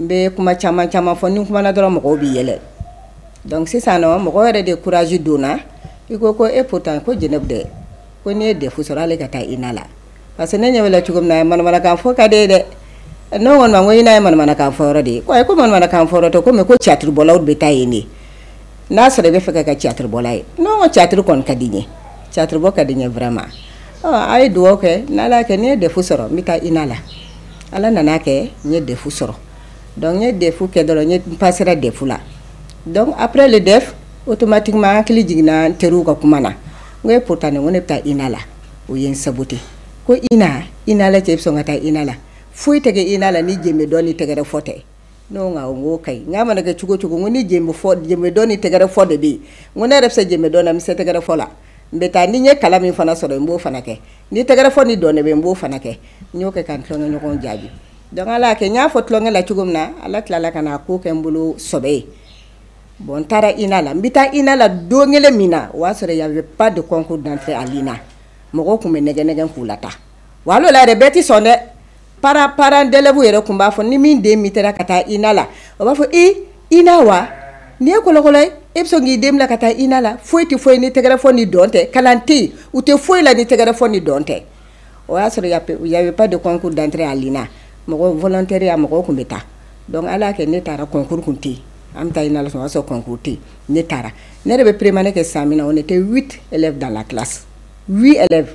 N bɛ kuma caman caman fɔ ni n kumana dɔrɔn mɔgɔw bɛ yɛlɛ donc sisan nɔn mɔgɔ yɛrɛ de courage donna i ko ko e pourtant ko Jeneb dɛ ko n'i ye DEF sɔrɔ hali e ka taa INA la parce que ne ɲɛ b'e la cogo min na manamanakan fɔ ka d'e ye dɛ ne ko kɔni ma ko INA ye manamanakan fɔ yɔrɔ de ye ko ayi ko manamanakan fɔ yɔrɔ tɛ ko mais ko caatiri bɔlaw de bɛ taa yen de n'a sɔrɔ i b'a fɛ ka kɛ caatiri bɔla ye ne ko caatiri kɔni ka di n ye caatiri bɔ ka di n ye vraiment ɔ a ye dugawu kɛ n'Ala y'a kɛ ni n ye DEF sɔrɔ n bɛ taa INA la Ala nan'a kɛ n ye DEF sɔrɔ donc n ye DEF kɛ dɔrɔn ne pasera DEF la donc après le DEF automatiquement n hakili jiginna teriw ka kuma na n ko e pourtant n ko ne bɛ taa INA la o ye n sabu tɛ ko INA INA la cɛ i bɛ sɔn ka taa INA la foyi tɛ kɛ INA la ni jenbe dɔn ni tɛgɛrɛ fɔ tɛ ne ko awɔ n k'o ka ɲi n k'a mana kɛ cogo o cogo n ko ni jemefɔ jemedɔn ni tɛgɛrɛfɔ de bɛ yen n ko ne yɛrɛ bɛ se jemedɔn na n bɛ se tɛgɛrɛfɔ la n bɛ taa ni n ye kalan min fana sɔrɔ n b'o fana kɛ ni tɛgɛrɛfɔ ni dɔn de bɛ yen n b'o fana kɛ n y'o kɛ ka n tulonkɛɲɔgɔnw jaabi donc ala y'a kɛ n y'a fɔ tulonkɛ la cogo min na ala tilala ka na k'o kɛ n bolo sɔbɛ ye bon n taara INA la n bɛ taa INA la don kelen min na o y'a sɔrɔ il y avait pas de concours d'entrée à l'INA mɔgɔw tun bɛ nɛgɛ nɛgɛ k'u lataa wa hali o la yɛrɛ bɛɛ tɛ sɔn dɛ parent parent d'élèvew yɛrɛ tun b'a fɔ ni min den min taara ka taa INA la o b'a fɔ e INA wa nin ye kɔlɔkɔlɔ ye e bɛ sɔn k'i den bila ka taa INA la foyi tɛ fɔ yen ni tɛgɛrɛ fɔ ni dɔn tɛ kalan tɛ yen u tɛ foyi la ni tɛgɛrɛ fɔ ni dɔn tɛ o y'a sɔrɔ y'a pas de concours d'entrée à l'INA mɔgɔ volontaire ya mɔgɔw tun bɛ taa donc ala y'a kɛ ne taara concours tun tɛ yen an bɛ taa INA la o y'a sɔrɔ concours tɛ yen ne taara ne yɛrɛ bɛ première année kɛ san min na on était huit élèves dans la classe huit élèves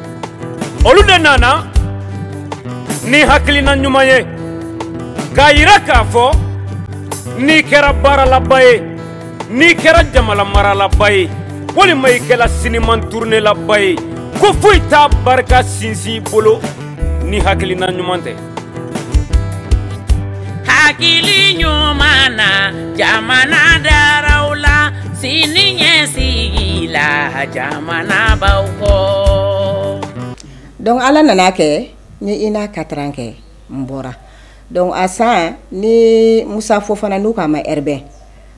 olu de nana ni hakilina ɲuman ye k'a yira k'a fɔ n'i kɛra baaralaba ye n'i kɛra jamana maralaba ye walima i kɛra siniman turunelaba ye ko foyi t'a barika sinsin i bolo ni hakilina ɲuman tɛ hakili ɲuman na jamana daraw la sini ɲɛsigi la jamanabaw kɔ donc ala nan'a kɛ n ye INA quatre ans kɛ n bɔra donc a san ni musa fofana n'u k'a ma ɛrɛbɛn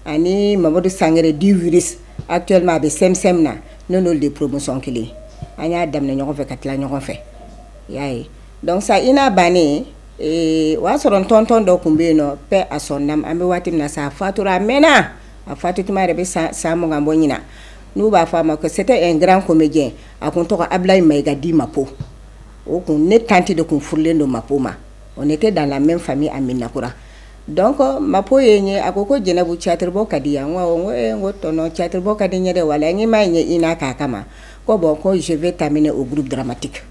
ani mamadu sangare dit virus actuellement a bɛ CNCM na ne n'olu de promotion kelen an y'a daminɛ ɲɔgɔn fɛ ka tila ɲɔgɔn fɛ y'a ye Donc sa INA bannen o y'a sɔrɔ n tonton dɔ tun bɛ yen nɔ paix à son âme an bɛ waati min na sa a fatura a mɛnna a fatulen yɛrɛ bɛ se san mugan bɔ ɲin n'u b'a fɔ a ma ko c'était un grand comédien a tun tɔgɔ abu in maiga dit mako o kun ne tante de tun furulen don mako ma on était dans la même famille à medinakura donc mako ye n ye a ko ko jɛnɛbu cateribɔ ka d'i ye wa n ko ko tonton cateribɔ ka di n ye dɛ wa n ɲɛ m'a n ye INA k'a kama ma ko bon ko je vais t'amener au groupe dramatique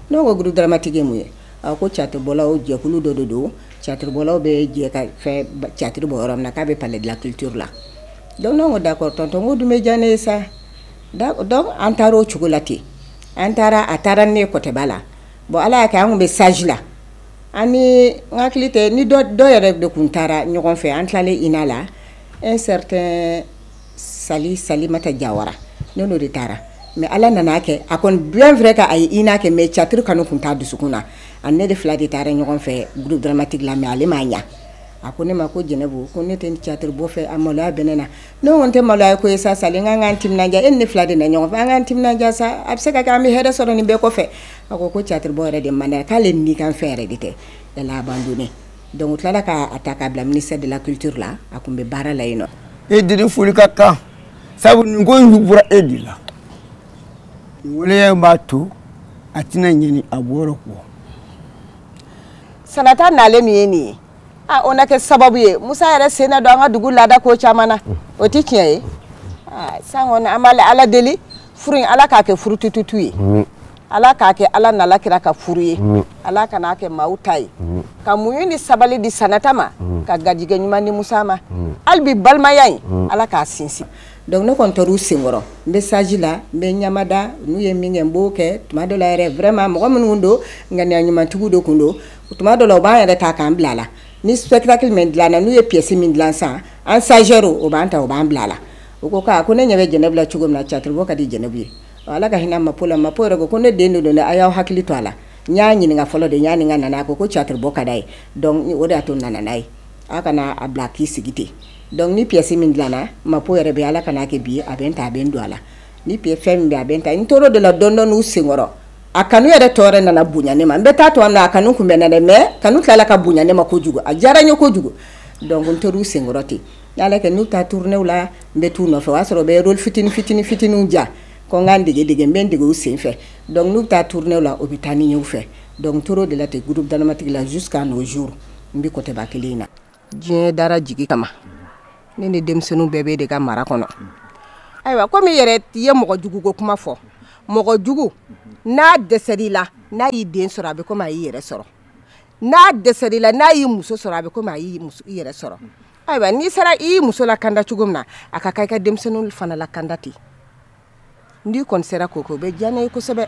N ko groupe dramatique ye mun ye a ko caatiribɔlaw jɛkulu dɔ de don caatiribɔlaw bɛ jɛ ka fɛn caatiri bɔ yɔrɔ min na k'a bɛ palais de la culture la donc ne ko d'accord tonton n ko o dun bɛ diya ne ye sa donc an taara o cogo la ten an taara a taara ni ne ye kɔtɛba la bon Ala y'a kɛ an tun bɛ stage la an ni n hakili tɛ ni dɔ dɔ yɛrɛ de tun taara ɲɔgɔn fɛ an tilalen INA la un certain sali salimata jawara ne n'o de taara mɛ ala nan'a kɛ a kɔni bɛn fɛ ka a ye INA kɛ mɛ catiri kanu tun t'a dusukun na a ni ne de fila de taara ɲɔgɔn fɛ groupe dramatique la mɛ ale m'a ɲa a ko ne ma ko jɛnɛbu ko ne tɛ catiri bɔ fɛ a maloya bɛ ne na ne ko nin tɛ maloyako ye sa sali n k'an k'an timinanja e ni ne fila de nana ɲɔgɔn fɛ an k'an timinanja sa a bɛ se ka kɛ an bɛ hɛrɛ sɔrɔ nin bɛɛ kɔfɛ a ko ko catiri bɔ yɛrɛ de man d'a ye k'ale ni kan fɛn yɛrɛ de tɛ yala a b'an don ne Donc u tilala ka a ta k'a bila ministère de la culture la a kun bɛ baara la yen nɔ. E de ni foli ka kan sabu nin ko in bɔra e de la. Nin waleya b'a to a tɛna ɲinɛ a bɔyɔrɔ kɔ. Sanata nalen min ye nin ye a o na kɛ sababu ye Musa yɛrɛ sen na don an ka dugu laada ko caman na o tɛ tiɲɛ ye. San kɔni an bɛ ala deli furu in ala k'a kɛ furu tututu ye. ala k'a kɛ ala n'ala kira ka furu ye ala kan'a kɛ maaw ta ye ka muɲu ni sabali di sanata ma ka garijɛgɛ ɲuman di musa ma hali bi balimaya in ala k'a sinsin dɔnku ne kɔni tor'u senkɔrɔ n bɛ saji la n bɛ ɲamada n'u ye min kɛ n b'o kɛ tuma dɔ la yɛrɛ vraiment mɔgɔ minnu don ŋaniya ɲumantigiw de tun don tuma dɔ la u b'an yɛrɛ ta k'an bila a la ni sutaki min dilanna n'u ye pièce min dilan san an sanro o b'an ta o b'an bila a la u ko ko ne ɲɛ bɛ jɛnɛbu la cogo min na catiri ka di jɛnɛbu ye ala ka hinɛ ma la ma yɛrɛ ko ko ne den de don a y'aw hakili to a la n y'a ɲininka fɔlɔ ne y'a ɲininka nana a ko catiri bɔ ka d'a ye o de y'a to n nana n'a ye aw kana a bila k'i sigi ten dɔnku ni pièce min dilanna ma yɛrɛ bɛ ala kan'a kɛ bi a bɛ n ta a bɛ n don a la ni p fɛn min bɛ a bɛ n ta n tor'o de la tontonw senkɔrɔ a kanu yɛrɛ tora nana bonya ne ma n bɛ taa to a kanu tun bɛ n na dɛ mɛ kanu tilala ka bonya ne ma ko kojugu a diyara n ye ko kojugu dɔnku n tor'u senkɔrɔ ten N'ala kɛ n'u bɛ taa tournéew la n bɛ t'u nɔfɛ o y'a sɔrɔ u bɛ rôle fitini fitini fitiniw ja ko n ka n dege dege n bɛ n dege u senfɛ donc n'u bɛ taa tournéew la u bɛ taa ni n ye u fɛ donc n tor'o de la ten groupe dramatique la jusqu'à nos jours n bɛ kɔtɛba kelen in na. Diɲɛ dara jigi kama ne ni denmisɛnninw bɛɛ b'e de ka mara kɔnɔ ayiwa komi i yɛrɛ i ye mɔgɔ jugu ko kuma fɔ mɔgɔ jugu n'a dɛsɛr'i la n'a y'i den sɔrɔ a bɛ komi a y'i yɛrɛ sɔrɔ n'a dɛsɛr'i la n'a y'i muso sɔrɔ a bɛ komi a y'i yɛrɛ sɔrɔ. ayiwa n'i sera i y'i muso lakanda cogo min na a ka kan i ka denmisɛnninw fana lakanda ten n'i kɔni sera k'o kɛ o bɛ diya ne ye kosɛbɛ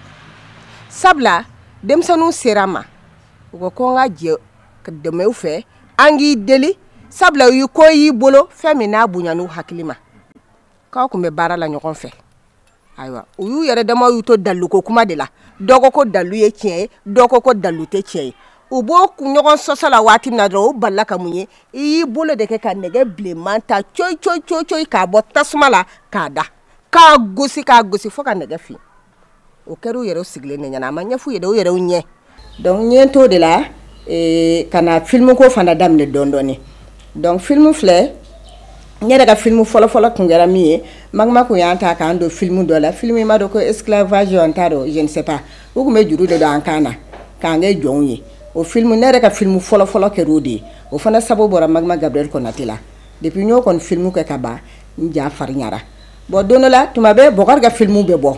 sabula denmisɛnninw sera n ma u ko ko n ka jɛ ka dɛmɛ u fɛ an k'i deli sabula u ye ko y'i bolo fɛn min n'a bonyan'u hakili ma k'aw tun bɛ baara la ɲɔgɔn fɛ ayiwa u y'u yɛrɛ dama y'u to daliluko kuma de la dɔ ko ko dalilu ye tiɲɛ ye dɔ ko ko dalilu tɛ tiɲɛ ye u b'o ɲɔgɔn sɔsɔ la waati min na dɔrɔn o balila ka mun ye i y'i bolo de kɛ ka nɛgɛ bilenman ta coyi coyi coyi coyi k'a bɔ tasuma la k'a da k'a gosi k'a gosi fo ka nɛgɛ fin o kɛra u yɛrɛw sigilen de ɲɛna a ma ɲɛf'u ye dɛ u yɛrɛw ɲɛ donc n ye n t'o de la ee, ka na filimu ko fana daminɛ dɔɔni dɔɔni donc filimu filɛ n yɛrɛ ka filimu fɔlɔfɔlɔ tun kɛra min ye magma kun y'an ta k'an don filimu dɔ la filimu i m'a dɔn ko esclavage n t'a dɔn je ne sais pas u tun bɛ juru de don an kan na k'an kɛ jɔnw ye o filimu ne yɛrɛ ka filimu fɔlɔfɔlɔ kɛra o de ye o fana sababu bɔra magma gabriel konate la depuis n y'o kɔni filimu kɛ ka ban n ja farinyara bɔn don dɔ la tuma bɛɛ bɔkari ka filimu bɛ bɔ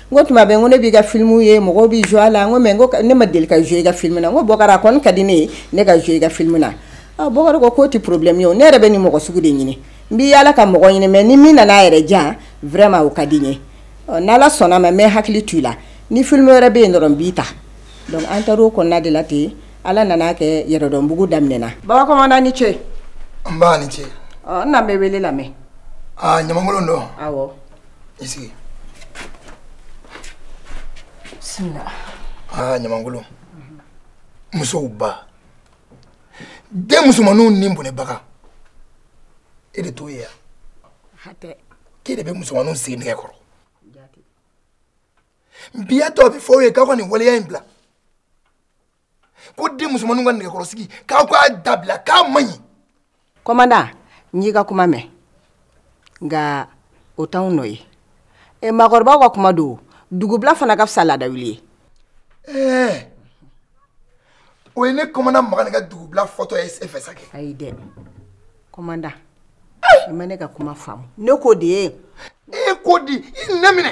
n ko tuma bɛɛ n ko ne b'i ka filimu ye mɔgɔw bɛ jo a la n ko mɛ n ko ne ma deli ka jo i ka filimu na n ko bɔkari a kɔni ka di ne ye ne ka jo i ka filimu na ah, bɔkari ko k'o tɛ problème ye o ne yɛrɛ bɛ nin mɔgɔ sugu de ɲini n bɛ yaala ka mɔgɔ ɲini mɛ ni min nana a yɛrɛ jan vraiment o ka di n ye n'ala sɔnn'a ma n bɛ hakili to i la ni filimu wɛrɛ bɛ yen dɔrɔn n b'i ta donc an taar'o kɔnɔna de la ten ala nana kɛ yɛrɛdɔnbugu daminɛna baba kɔmanda ni ce nba i ni ce n na n bɛ wele lamɛn ɲamankolon don awɔ i sigi bisimila aa ɲamankolon musow ba den musomanninw ni bɔnɛbaga e de t'o ye yan hatɛ k'e de bɛ musomanninw sigi nɛgɛ kɔrɔ bi a to n b'a fɔ aw ye k'aw ka nin waleya in bila ko den musomanninw ka nɛgɛkɔrɔsigi k'aw k'a dabila k'a man ɲi kɔmanda n y'i ka kuma mɛn nka o t'anw nɔ ye e maakɔrɔbaw ka kuma don dugubila fana ka fisa laadawuli ye ɛɛ o ye ne kɔmanda makan ka dugubila fɔtɔ ye e fɛ sa kɛ ayi dɛ kɔmanda i ma ne ka kuma faamu ne ko de ye e ko di i nɛn minɛ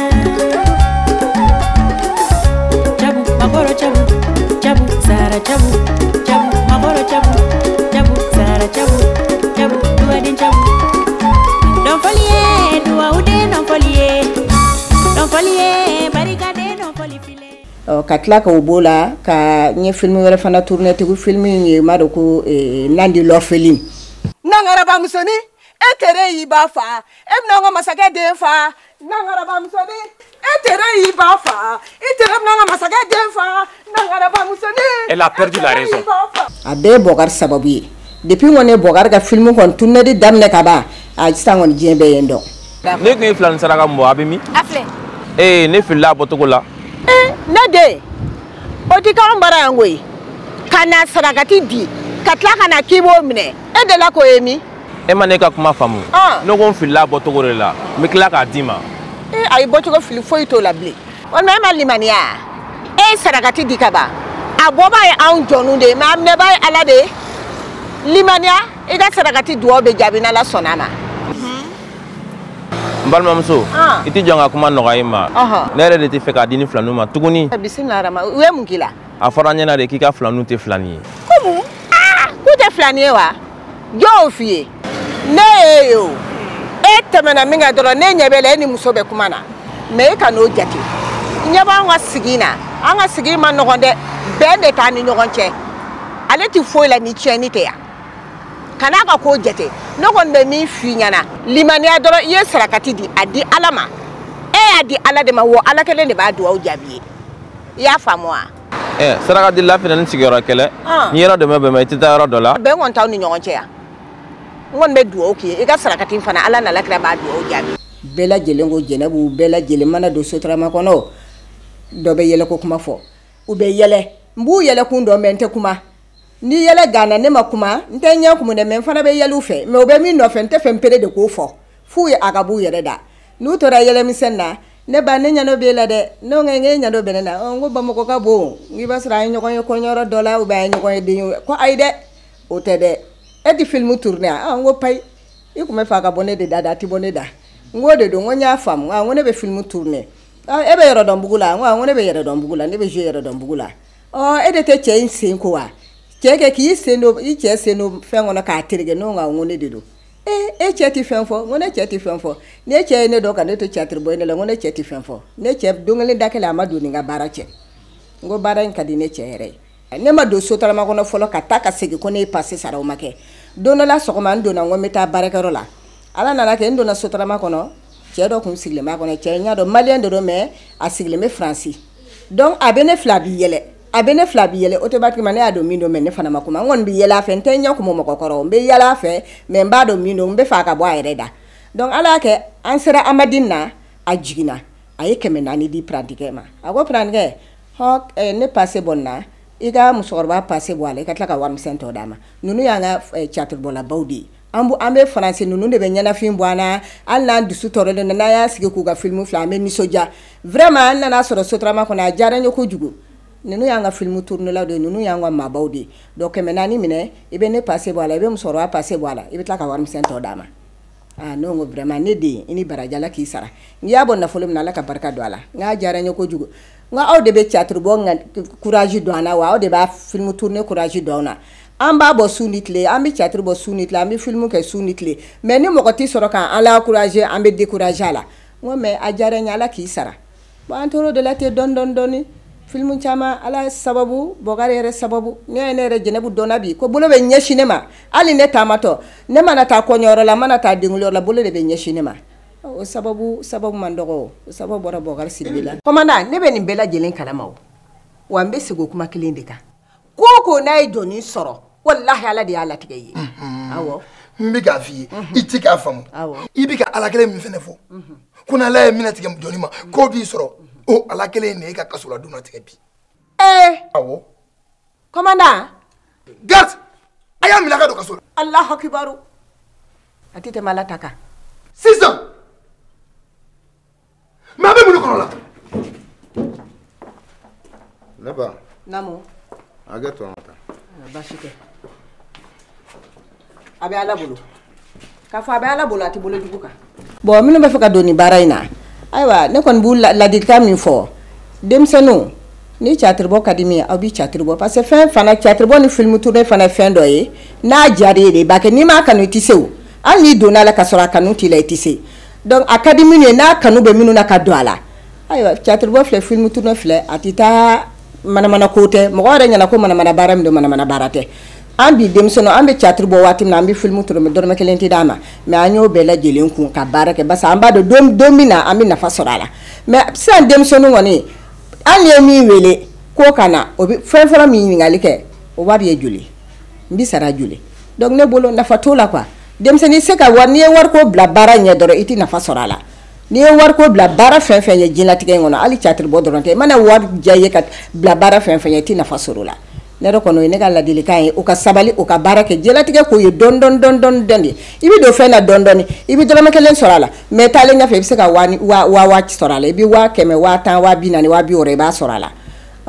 ka tila ka b'o la ka n ye filimu wɛrɛ fana turunɛ tugun filimu in e m'a dɔn ko eh, nandi l'orpheline nangarabamusoni e tere y'i ba faa e bɛna an ka masakɛ den faa Nangarabamusonin e tere y'i ba faa i t'an ka masakɛ den faa e la pdi la a bɛɛ ye bɔkari sababu ye depi kɔni n ye bɔkari ka filimu kɔni turunɛ de daminɛ ka ban a sisan kɔni diɲɛ bɛɛ ye n dɔn ne tun ye filan sara ka mɔgɔ a bɛ min ee ne filila a bɔcogo la ne den o tɛ k'an bara yan koyi ka na sarakati di ka tila ka na k'i b'o minɛ e de la k'o ye min e ma ne ka kuma faamu ah. ne ko n filila bɔcogo de la n bɛ tila k'a d'i ma eh, a ye bɔcogo fili foyi t'o la bilen walima e ma limaniya e ye sarakati di ka ban a bɔbaa ye anw jɔnnu de ye mɛ a minɛbaa ye ala de ye limaniya i ka sarakati dugawu bɛ jaabi n'ala sɔnna a ma n balimamuso ah. i tɛ jɔ n ka kuma nɔgɔya i ma ne yɛrɛ de tɛ fɛ k'a d'i ni filaniw ma tuguni eh, bisimila rama u ye mun k'i la a fɔra n ɲɛna de k'i ka filaniw tɛ filani ye komu ah, k'u tɛ filani ye wa jɔ n f'i ye ne y'i ye e tɛmɛna min kɛ dɔrɔn ne ɲɛ b'e la e ni muso bɛ kuma na mɛ e kan'o jate i ɲɛ b'an ka sigi na an ka sigi man nɔgɔn dɛ bɛn de t'an ni ɲɔgɔn cɛ ale tɛ foyi la ni tiɲɛni tɛ yan kan'a ka ko jate ne kɔni bɛ min f'i ɲɛna limaniya dɔrɔn i ye sarakati di a di ala ma e y'a di ala de ma wa ala kelen de b'a dugawu jaabi i ye i y'a faamu wa ɛ sarakadila fana ni sigiyɔrɔ kelen ni yɔrɔ dɔ ma bɛn i tɛ taa yɔrɔ dɔ la bɛn kɔni t'aw ni ɲɔgɔn cɛ yan n kɔni bɛ dugawu k'i ye i ka sarakati fana ala n'a ka kira b'a dugawu jaabi bɛɛ lajɛlen ko jɛnɛbu bɛɛ lajɛlen mana don sotarama kɔnɔ dɔ bɛ yɛlɛ ko kuma fɔ u bɛ yɛlɛ n b'u yɛlɛ kun dɔn mɛ n tɛ kuma ni yɛlɛ ganna ne ma kuma n tɛ ɲɛ kumu dɛ mɛ n fana bɛ yɛlɛ u fɛ mɛ u bɛ min nɔfɛ n tɛ fɛ n yɛrɛ de k'o fɔ f'u ye a ka b'u yɛrɛ da n'u tora yɛlɛmisɛn na ne ba ne ɲɛ dɔ b'e la dɛ ne ko n k'e ɲɛ dɔ bɛ ne la n ko bamakɔ ka bon n k'i b'a sɔrɔ an ye ɲɔgɔn ye kɔɲɔyɔrɔ dɔ la ubiyɛn an ye ɲɔgɔn ye den ye ko ayi dɛ o tɛ dɛ e tɛ filimu turune a n ko payi i tun bɛ fɛ a ka bɔ ne de da dɛ a tɛ bɔ ne da n k'o de don n ko n y'a faamu n ko ne bɛ filimu turune e bɛ yɛrɛdɔnbugu la n ko ne bɛ yɛrɛdɔnbugu la ne bɛ jouer yɛrɛdɔnbugu la ɔ e de tɛ cɛ in sen ko wa cɛ kɛ k'i sen don i cɛ sen don fɛn kɔnɔ k'a tereke ne ko n ko ne de don ee e cɛ tɛ fɛn fɔ n ko ne cɛ tɛ fɛn fɔ ne cɛ ye ne dɔn ka ne to catiri bɔ de la n ko ne cɛ tɛ fɛn fɔ ne cɛ don kelen da kelen a ma don n ni n ka baara cɛ n ko baara in ka di ne cɛ yɛrɛ ye ne ma don sotarama kɔnɔ fɔlɔ ka taa ka segin ko ne ye pase sara o ma kɛ don dɔ la sɔgɔma n donna n ko n bɛ taa baarakɛyɔrɔ la ala nana kɛ n donna sotarama kɔnɔ cɛ dɔ tun sigilen b'a kɔnɔ cɛ n y'a dɔn maliyɛn de don mɛ a sigilen bɛ faransi donc a bɛ ne filɛ a bɛ yɛlɛ a bɛ ne filɛ a bɛ yɛlɛ automatiquement ne y'a dɔn min don mɛ ne fana ma kuma n kɔni bɛ yɛlɛ a fɛ n tɛ ɲɛ kumu mɔgɔ kɔrɔ n bɛ yɛlɛ a fɛ mɛ n b'a dɔn min don n bɛ fɛ a ka bɔ a yɛrɛ da donc ala y'a kɛ an sera amadini na a jiginna a ye kɛmɛ naani di prantikɛ ma a ko prantikɛ hɔ eh, ne pase bɔ nin na i ka musokɔrɔba pase bɔ a la i ka tila ka warimisɛn tɔ d'a ma ninnu y'an ka eh, catiribɔlabaw de ye an bu an bɛ faransi ninnu de bɛ ɲɛnafin bɔ an na hali n'an dusu tɔɔrɔlen don n'an y'a sigi k'u ka filimu filɛ an bɛ nisɔndiya vraiment an nana sɔrɔ sotarama kɔnɔ a diyara n ye kojugu ninnu y'an ka filimu turunelaw de ye ninnu y'an ka maabaw de ye donc kɛmɛ naani minɛ i bɛ ne pase bɔ a la i bɛ musokɔrɔba pase bɔ a la i bɛ tila ka warimisɛn tɔ d'a ma aa ne ko vraiment ne den i ni baraji ala k'i sara n'i y'a bɔ nafolo min na ala ka barika don a la n k'a diyara n ye kojugu N aw de bɛ catiri bɔ ka kurasi don an na wa aw de bɛ filimu tourne kurasi don an na an b'a bɔ su ni tile an bɛ catiri bɔ su ni tile an bɛ filimu kɛ su ni tile mɛ ni mɔgɔ tɛ sɔrɔ k'an encourager an bɛ décourager la n mɛ a diyara n ye ala k'i sara bon an tora de la ten dɔɔni dɔɔni filimu caman ala sababu bo yɛrɛ sababu ne ye ne yɛrɛ jɛnɛbu dɔn bi ko bolo bɛ ɲɛsin ne ma hali ne taamatɔ ne mana taa kɔɲɔyɔrɔ la mana taa denyɔrɔ la bolo de bɛ ɲɛsin ne ma O sababu sababu man dɔgɔ o sababu bɔra Bubakari Sidibe la kɔmandan ne bɛ nin bɛɛ lajɛlen kalama o wa n bɛ segin o kuma kelen de kan ko o ko n'a ye jɔni sɔrɔ walahi Ala de y'a latigɛ i ye awɔ n bɛ k'a f'i ye i tɛ k'a faamu i bɛ ka Ala kelen min fana fɔ ko n'Ala ye min latigɛ jɔni ma k'o b'i sɔrɔ o Ala kelen in de ye e ka kasoladon latigɛ bi ee awɔ Commandant. Garde! A y'a minɛ a ka don kaso la. Alahu akibaru. A tɛ tɛmɛ Ala ta kan. Sisan! Mais a bɛ mun de kɔnɔ la? Ne ba. Naamu. Hakɛ to an ka taa. Basi tɛ. a bɛ ala bolo k'a fɔ a bɛ ala bolo a tɛ bolo jugu kan bon minnu b'a fɛ ka don ni baara in na ayiwa ne kɔni b'u ladilikan min fɔ denmisɛnninw ni catiribɔ ka di min aw bɛ catiribɔ parce que fɛn fana catiribɔ ni filimu tourne fana ye fɛn dɔ ye n'a diyara e ye i b'a kɛ n'i m'a kanu i tɛ se o hali n'i donna a la ka sɔrɔ a kanu t'i la i tɛ se donc a ka di minnu ye n'a kanu bɛ minnu na u ka don a la ayiwa catiribɔ filɛ filimu tourne filɛ a tɛ taa manamana ko tɛ mɔgɔ yɛrɛ ɲɛna ko manamana baara min don manamana baara tɛ an bi denmisɛnninw an bɛ catiri bɔ waati min na an bɛ filimu tourne dɔrɔmɛ kelen tɛ d'an ma mɛ an y'o bɛɛ lajɛlen kun ka baara kɛ parce que an b'a dɔn don don min na an bɛ nafa sɔrɔ a la mɛ sisan denmisɛnninw kɔni an ye min wele k'o ka na o bɛ fɛn fɔlɔ min ɲininkali kɛ o wari ye joli n bɛ sara joli donc ne bolo nafa t'o la quoi denmisɛnnin se ka wari n'i ye wariko bila baara ɲɛ dɔrɔn i tɛ nafa sɔrɔ a la n'i ye wariko bila baara fɛn o fɛn ɲɛ diɲɛlatigɛ in kɔnɔ hali catiri bɔ dɔrɔn tɛ i mana wari diya i ye ka bila baara fɛn o fɛn ɲɛ i tɛ nafa sɔrɔ o la ne yɛrɛ kɔni o ye ne ka ladilikan ye o ka sabali o ka baara kɛ diɲɛlatigɛ ko ye dɔɔni dɔɔni dɔɔni dɔɔni dɔɔni de i bɛ don fɛn na dɔɔni dɔɔni i bɛ dɔrɔmɛ kelen sɔrɔ a la mɛ taalen ɲɛfɛ i bɛ se ka waa waa waa sɔrɔ a la i bɛ waa kɛmɛ waa tan waa bi naani waa bi wɔɔrɔ i b'a sɔrɔ a la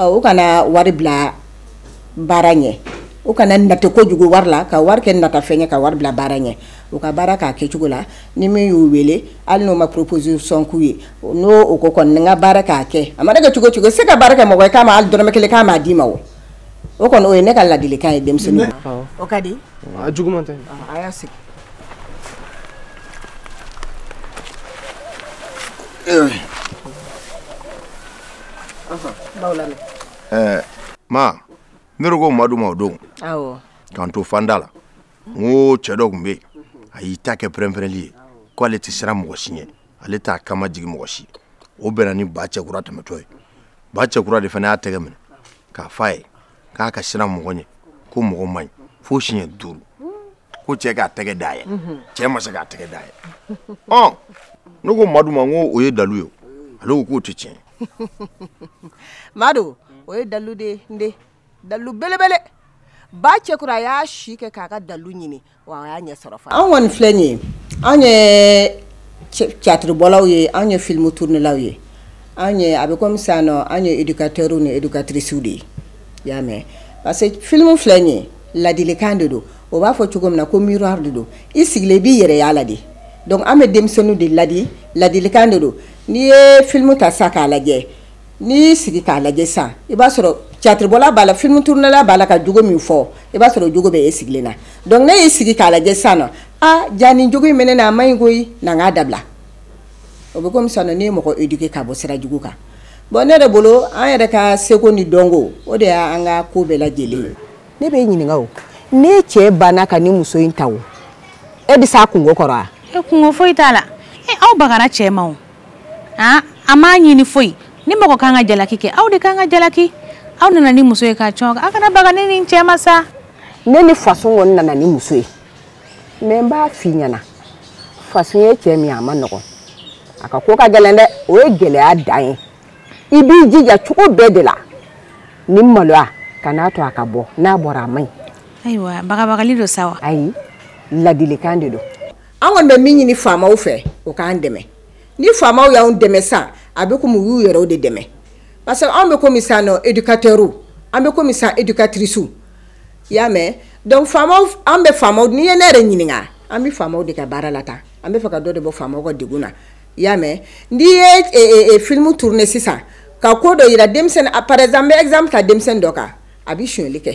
o kana wari bila baara ɲɛ o kana nata kojugu wari la ka wari kɛ natafɛn ye ka wari bila baara ɲɛ u ka baara k'a kɛcogo la ni min y'u wele hali n'o ma proposition k'u ye n'o o ko kɔni n ka baara k'a kɛ a mana kɛ cogo o cogo se ka baara kɛ mɔgɔ k'a ma hali dɔrɔmɛ kelen k'a ma d'i ma o o kɔni o ye ne ka ladilikan ye denmisɛnnin o ka di a jugu tɛ a y'a sigi ma ne ko madu ma o don k'an to fanda la n ko cɛ dɔ tun bɛ yen a y'i ta kɛ pɛrɛnpɛrɛnli ye ko ale tɛ siran mɔgɔ si ɲɛ ale t'a kama jigin mɔgɔ si o bɛnna ni ba cɛkura tɛmɛtɔ ye ba cɛkura de fana y'a tɛgɛ minɛ k'a f'a ye k'a ka siran mɔgɔ ɲɛ ko mɔgɔ man ɲi fo siɲɛ duuru ko cɛ k'a tɛgɛ dayɛlɛ cɛ ma se k'a tɛgɛ dayɛlɛ ɔ ne ko madu ma n ko o ye dalu ye ale ko k'o tɛ tiɲɛ madu o ye dalu de ye n den dalu belebele ba cɛkura a y'a si kɛ k'a ka dalu ɲini wa a y'a ɲɛ sɔrɔ fana an kɔni filɛ nin ye an ye catiribɔlaw ye an ye filimu turunilaw ye an ye a bɛ komi sisan nɔ an ye edukatɛriw ni edukatirisiw de ye i y'a mɛn parce que filimu filɛ nin ye ladilikan de don o b'a fɔ cogo min na ko miroir de don i sigilen i b'i yɛrɛ y'a la de donc an bɛ denmisɛnninw de ladi ladilikan de don n'i ye filimu ta sisan k'a lajɛ n'i y'i sigi k'a lajɛ sisan i b'a sɔrɔ catiribɔla b'a la filimu turunɛla b'a la ka jogo min fɔ i b'a sɔrɔ jogo bɛ e sigilen na donc ne y'i sigi k'a lajɛ sisan nɔ a jaa nin jogo in bɛ ne na a man ɲi koyi na n k'a dabila o bɛ komi sisan nɔ ne ye mɔgɔ éduquer ka bɔ sira jugu kan bon ne yɛrɛ bolo an yɛrɛ ka seko ni dɔnko o de y'an ka ko bɛɛ lajɛlen ye ne b'e ɲininka o ne cɛ banna ka nin muso in ta o e bɛ s'a kunko kɔrɔ wa e kunko foyi t'a la e aw bagara cɛ ma o aa a m'a ɲini foyi ni mɔgɔ kan ka jalaki kɛ aw de kan ka jalaki aw nana ni muso ye k'a cɔn aw kana baga ne ni n cɛ ma sa ne ni fasun kɔni nana ni muso ye mais n b'a f'i ɲɛna fasun ye cɛ min a man nɔgɔn a ka ko ka gɛlɛn dɛ o ye gɛlɛya dan ye i b'i jija cogo bɛɛ de la ni maloya kan'a to a ka bɔ n'a bɔra a man ɲi ayiwa bagabagali don sa wa ayi ladilikan de don an kɔni bɛ min ɲini faamaw fɛ u k'an dɛmɛ ni faamaw y'an dɛmɛ sa a bɛ komi u y'u yɛrɛw de dɛmɛ parce que anw bɛ komi sisan nɔ éducateurs an bɛ komi sisan éducatrices i y'a mɛn donc faamaw an bɛ faamaw n'i ye ne yɛrɛ ɲininka an bɛ faamaw de ka baara la tan an b'a fɛ ka dɔ de bɔ faamaw ka degun na i y'a mɛn n'i ye e, e, e, film tourner sisan ka ko dɔ yira denmisɛnnin par exemple n bɛ exemple ta denmisɛnnin dɔ kan a bɛ sonyali kɛ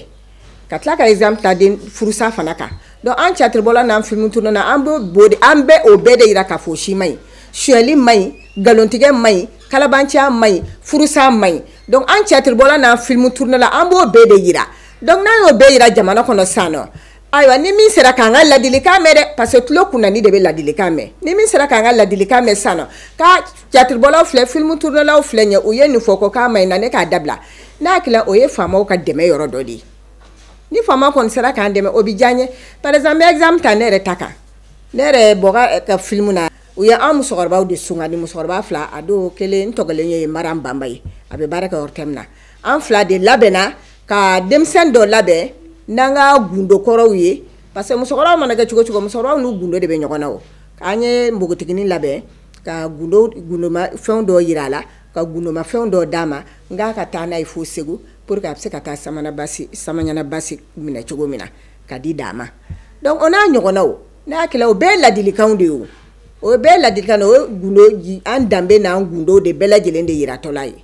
ka tila ka exemple ta den furusa fana kan donc an catiribɔla n'an filimu turunɛla an b'o de an bɛ o bɛɛ de jira k'a fɔ o si man ɲi sonyali man ɲi nkalontigɛ man ɲi kalabanciya man ɲi furusa man ɲi donc an catiribɔla n'an filimu turunɛla an b'o bɛɛ de jira donc n'an y'o bɛɛ jira jamana kɔnɔ sisan nɔ ayiwa ni min sera k'an ka ladilikan mɛn dɛ parce que tulo kunnandi de bɛ ladilikan mɛn ni min sera k'an ka ladilikan mɛn sisan nɔ ka catiribɔlaw filɛ filimu turunelaw filɛ ɲɛ u ye nin fɔ ko k'a ma ɲi na ne k'a dabila ne hakili o ye faamaw ka dɛmɛ yɔrɔ dɔ de ye ni faama kɔni sera k'an dɛmɛ o bɛ diya n ye par exemple n bɛ exemple ta ne yɛrɛ ta kan ne yɛrɛ bɔra ka filimu na u ye an musokɔrɔbaw de sugandi musokɔrɔba fila a tɔ kelen tɔgɔ de ye maram banba ye a bɛ baara kɛ ortm na an fila de labɛnna ka denmisɛn dɔ labɛn n'an ka gundo kɔrɔw ye parce que musokɔrɔbaw mana kɛ cogo cogo musokɔrɔbaw n'u gundo de bɛ ɲɔgɔn na o an ye npogotiginin labɛn ka fɛn dɔ jira a la ka gundoma fɛn dɔ d'a ma n k'a ka taa n'a ye fo segu pour que a bɛ se ka taa sa samaɲana basi minɛ cogo min na ka di da ma donc o n'a ɲɔgɔnnaw ne hakili la o bɛɛ ladilikan de ye o o bɛɛ ladilikan ye an danbe n'an gundo de bɛɛ lajɛlen de jiratɔla ye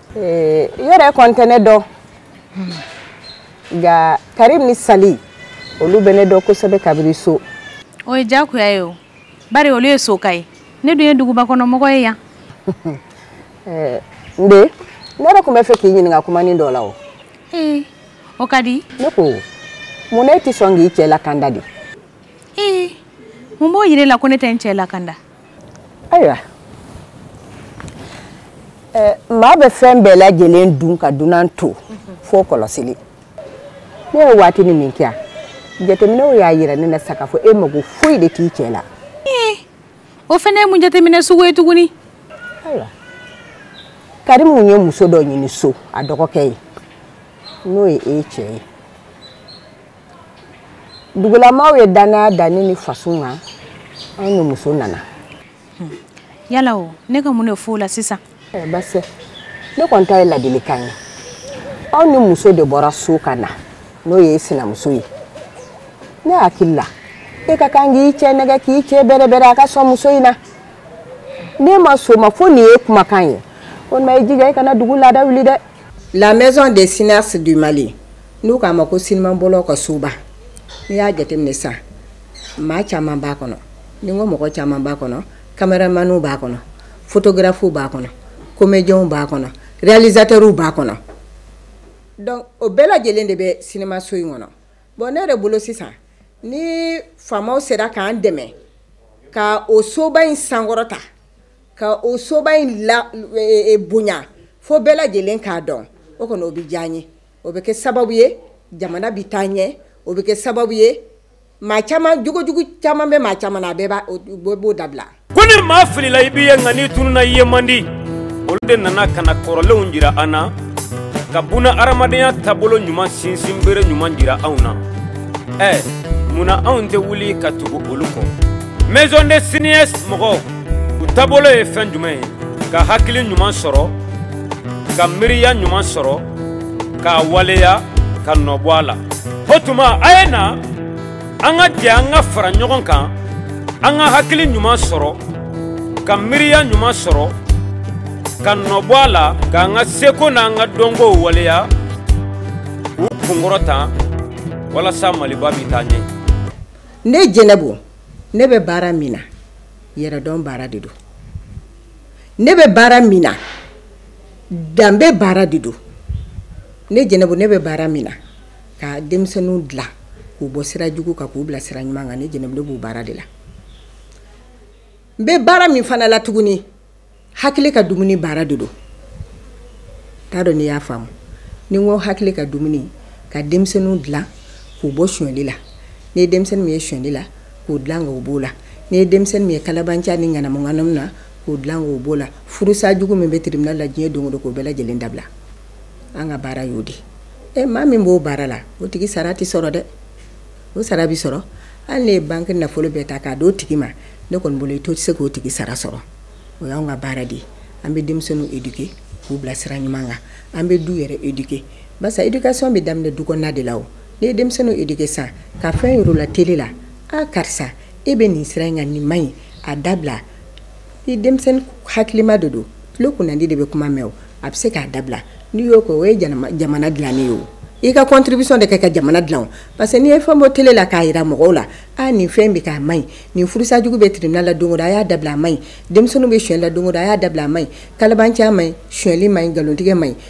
ee i yɛrɛ kɔni tɛ ne dɔn nka karimu ni sali olu bɛ ne dɔn kosɛbɛ kabiri so o ye diyagoya ye o bari olu ye sokaw ye ne dun ye dugubakɔnɔmɔgɔ ye yan ee n den ne yɛrɛ tun bɛ fɛ k'i ɲininka kumanin dɔ la o ee o ka di ne ko mun na e tɛ sɔn k'i cɛ lakanda de ee mun b'o yira e la ko ne tɛ n cɛ lakanda ayiwa maa bɛ fɛn bɛɛ lajɛlen dun ka dunan to fo kɔlɔsili ne ye waatinin min kɛ yan jateminɛw y'a yira ne na sa k'a fɔ e mago foyi de t'i cɛ la o fana ye mun jateminɛ sugu ye tuguni ayiwa karimu ye muso dɔ ɲini so a dɔgɔkɛ ye n'o ye e cɛ ye dugulamaaw ye dannaya da ne ni faso kan anw ni muso nana hmm. yala o ne ka mun de f'o la sisan eh, basi ne kɔni ta ye ladilikan ye aw ni muso de bɔra so ka na n'o ye sinamuso ye ne hakili la e ka kan k'i cɛ nɛgɛn k'i cɛ bɛrɛbɛrɛ a ka sɔn muso in na ne ma soma fo nin ye kumakan ye walima i jija i kana dugu laada wuli dɛ la maison des cinéastes du mali n'u k'a ma ko sinimabɔlaw ka soba n'i y'a jateminɛ sa maa caman b'a kɔnɔ n'i ko mɔgɔ caman b'a kɔnɔ kameramaniw b'a kɔnɔ fotografuw b'a kɔnɔ komediyɛnw b'a kɔnɔ realizatɛriw b'a kɔnɔ o bɛɛ lajɛlen de bɛ sinimaso in kɔnɔ bon ne yɛrɛ bolo sisan ni faamaw sera k'an dɛmɛ ka o soba in sankɔrɔta ka o soba in e, e, e, bonya fo bɛɛ lajɛlen ka don o kɔnɔ o bɛ diya n ye o bɛ kɛ sababu ye jamana bɛ taa ɲɛ o bɛ kɛ sababu ye maa caman jogojugu caman bɛ maa caman na a bɛɛ b'o dabila ko ni maa filila i b'i ye nka n'i tununa i ye man di olu de nana ka na kɔrɔlenw jira an na ka buna hadamadenya taabolo ɲuman sinsin bere ɲuman jira anw na ɛ munna anw tɛ wuli ka tugu olu kɔ maison des cinéastes mɔgɔw u taabolo ye fɛn jumɛn ye ka hakili ɲuman sɔrɔ ka miiriya ɲuman sɔrɔ k'a waleya ka nɔ bɔ a la o tuma a ye na an ka jɛ an ka fara ɲɔgɔn kan an ka hakili ɲuman sɔrɔ ka miiriya ɲuman sɔrɔ ka nɔ bɔ a la k'an ka seko n'an ka dɔnkow waleya k'u kunkɔrɔta walasa maliba bɛ taa ɲɛ ne jɛnɛbu ne bɛ baara min na yɛrɛdɔn baara de don ne bɛ baara min na danbe baara de don ne jɛnɛbu ne bɛ baara min na ka denmisɛnninw dila k'u bɔ sira jugu kan k'u bila sira ɲuman kan ne jɛnɛ b'o baara de la n bɛ baara min fana la tuguni hakili ka dumuni baara de don n t'a dɔn n'i y'a faamu ni ko hakili ka dumuni ka denmisɛnninw dila k'u bɔ sonyali la n'i ye denmisɛnnin min ye sonyali la k'o dilan k'o b'o la n'i ye denmisɛnnin min ye kalabanciya ni ŋanamuŋanamu na k'o dilan k'o b'o la furusa jugu min bɛ tribunal la diɲɛ don o don k'o bɛɛ lajɛlen dabila an ka baara y'o de ye maa min b'o baara la o tigi sara tɛ sɔrɔ dɛ o sara bɛ sɔrɔ hali n'e ye banque nafolo bɛɛ ta k'a d'o tigi ma ne kɔni bolo i to tɛ se k'o tigi sara sɔrɔ o y'anw ka baara de ye an bɛ denmisɛnninw éduquer k'u bila sira ɲuman kan an bɛ du yɛrɛ éduquer barisa éducation bɛ daminɛ du kɔnɔna de la o n'i ye denmisɛnninw éduquer san ka fɛn yira u la tele la a karisa e bɛ nin sira in kan nin man ɲi a dabila ni denmisɛnnin hakilima de don tulo kunnandi de bɛ kuma mɛn o a bɛ se k'a dabila n'i y'o kɛ o ye jamana dilanen ye o i ka contribution de kɛ ka jamana dila parce que n'i ye fɛn bɔ tele la k'a jira mɔgɔw la a nin fɛn bɛ kɛ a man ɲi nin furusajugu bɛ tribunal la don o don a y'a dabila a man ɲi denmisɛnnin bɛ sonyali la don o don a y'a dabila a man ɲi kalabanciya man ɲi suli man ɲi nkalontigɛ man ɲi